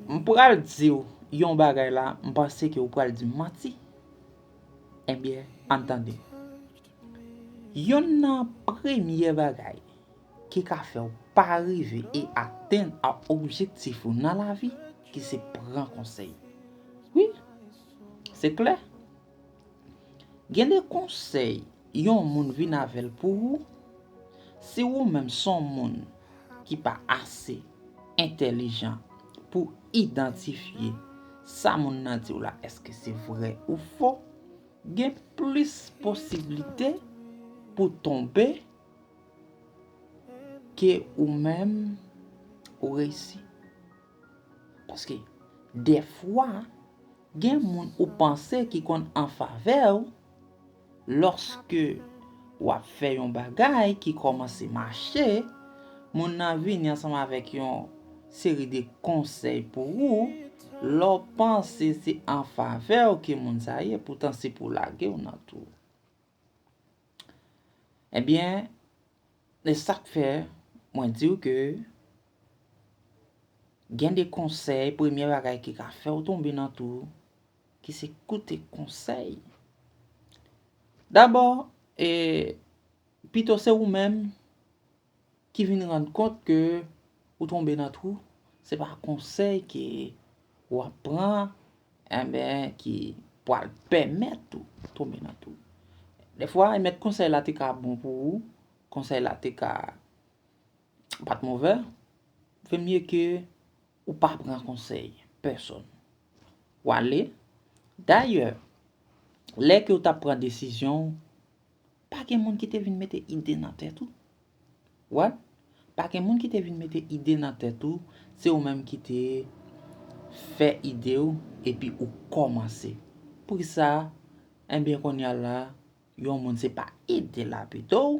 M pral di w yon bagay la, m panse ke w pral di m manti. Ebyen, ann tande. Yonn nan premye bagay ki ka fè w pa rive e atenn a objektif ou nan lavi ki se pran konsèy. Wi, se klè. Gen de konsèy yon moun vin avè l pou ou, si ou menm s on moun ki pa ase entèlijan pou idantifye sa moun nan di w la èske se vrè ou fo, gen plis posiblite pou tonbe ke ou menm ou reyisi. Paske dèfwa gen moun ou panse ki konn an favè w, lòske w ap fè yon bagay ki kòmanse mache, moun nan vini ansanm avèk yon seri de konsèy pou ou, lè w panse se an favè w ke moun sa ye, poutan se pou lage w nan tou. Ebyen, e sak fè mwen diw ke gen de konsèy premye bagay ki ka fèw tonbe nan tou ki se koute konsèy. Dabò, e pito se ou menm. ki vin rann kont ke ou tonbe nan twou, se pa konsèy ke w ap pran enben ki pwal pèmèt ou tonbe nan twou. Dèfwa e mèt konsèy la te ka bon pou ou, konsèy la te ka pat movè, vè mye ke ou pa pran konsèy pèsòn. W ale, dayè, lè ke ou t ap pran desizyon, Pa gen moun ki te vin mete ide nan tèt ou? What? Pa gen moun ki te vin mete ide nan tèt ou, se ou menm ki te fè ide ou epi ou kòmanse. Poukisa? Enben kounya la, yon moun se pa ide l ap ede w?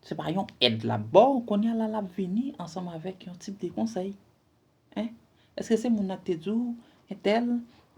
Se pa yon èd lap baw kounya la lap vini ansanm avèk yon tip de konsèy hein eske se moun nan ki te diw entèl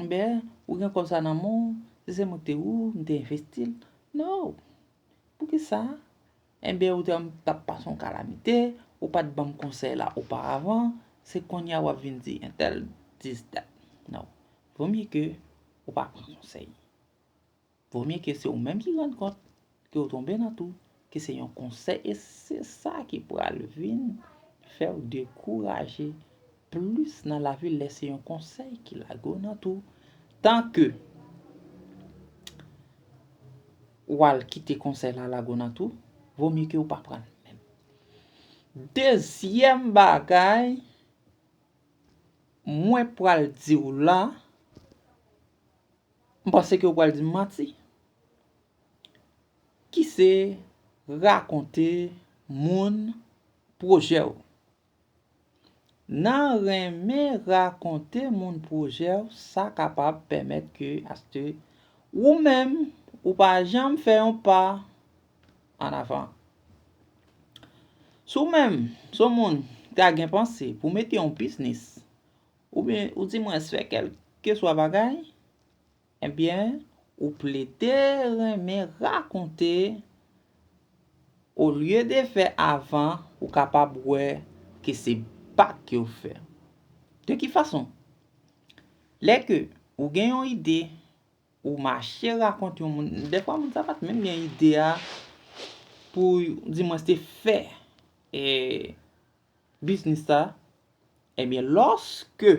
enbè ou gen kòb sa nan menw si se mwen ki te ou m te envestil no poukisa enbè ou te wèm tap pase yon kalamite ou pat banm konsèy la oparavan se kounya wap vin di entèl dis dat no vomye ke ou pa pran konsèy. Vo mye ke se ou menm ki rann kont ke ou tonbe nan tou, ke se yon konsèy e se sa ki pral vin fè ou dekouraje plis nan lavi lè se yon konsèy ki lage ou nan tou. Tan ke ou al kite konsèy la lage ou nan tou, vo mye ke ou pa pran l menm. Dezyèm bagay mwen pral di ou la. M panse ke ou pral di m manti. Ki se rakonte moun pwojè w. Nan renmen rakonte moun pwojè w sa kapab pèmèt ke aske ou menm ou pa janm fè yon pa an avan. Si w menm se yon moun ta gen panse pou mete yon biznis Oubyen ou di mwen fè kèlkeswa bagay, ebyen ou plede renmen rakonte olye de fè avan ou kapab wè ke se pa ke ou fè. De ki fason? Lè ke ou gen yon ide, ou mache rakont yon moun, dèfwa moun sa pa t menm gen ide a pou di mwen se fè. Biznis la, ebyen lòske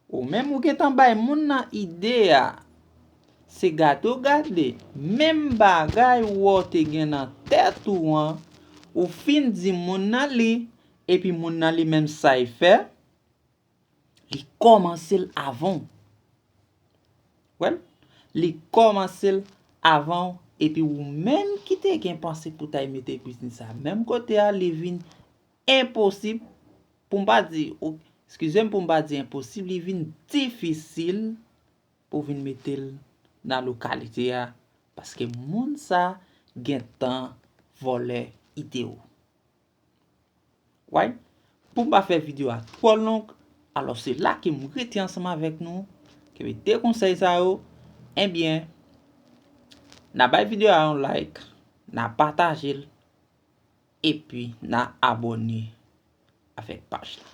ou menm ou gentan bay moun nan ide a, se gade ou gade, menm bagay ou wè ou te gen nan tèt ou an, ou fin di moun nan li, epi moun nan li menm sa y fè, Li kòmanse l avan w. Wè l? Li kòmanse l avan w epi ou menm ki te gen panse pou ta y mete biznis sa menm kote a li vin enposib pou m pa di o skize m pou m pa di enposib li vin difisil pou w vin mete l nan lokalite a paske moun sa gen tan vòlè ide w. Why? Pou m pa fè video a twò long, alò se la ke m rete ansanm avèk nou, ke m te konsèy sa yo, enbyen, na bay video a yon like, na pataje l, epi na abòne avèk paj la.